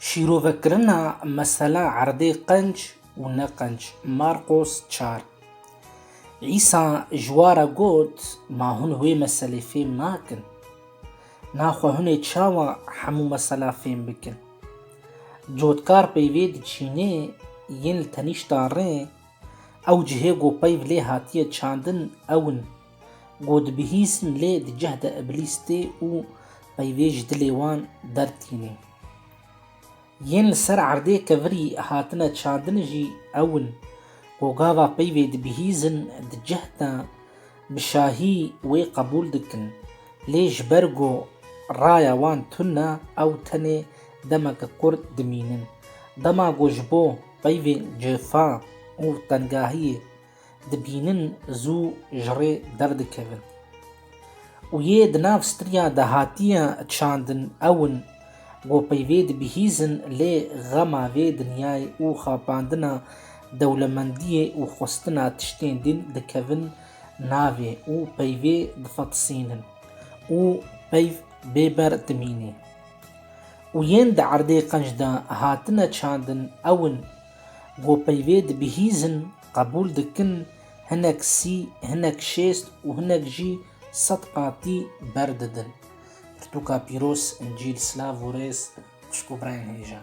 Şîrovekirina mesela erdê qenc û ne qenc, Marqos çar. Îsa ji wa re got, Ma hûn wê meselê fêm nakin. Naxwe hûn ê çawa hemû mesela fêm bikin? Cotkar peyvê diçînê yên li tenîşta rê, ew cihê ku peyv lê hatiye çandin ew in. Ku dibihîsin lê di cih de îblîs tê û peyvê ji dilê wan dertînê. Yên li ser erdê kevirî hatine çandin jî ew in ku gava peyvê dibihîzin di cih de bi şahî wê qebûl dikin lê ji ber ku raya wan tune ew tenê demek qurt dimînin. Dema ku ji bo peyvên cifa û tengahiyê dibînin zû ji rê derdikevin û yê di nav stirya dahatiya çandin ewin ku peyvê dibihîzin lê xema vê dinyayê û xapandina dewlemendiyê û xwestina tiştên din dikevin navê û peyvê difatisînin û peyv bêber dimînê û yên di erdê qenc de hatine çandin ewin ku peyvê dibihîzin Qebûl dikin hinek sî, hinek şêst û hinek jî sed qatî ber didin. Pirtûka pîroz, Încîl, silav û rêz Xwişk û birayên hêja.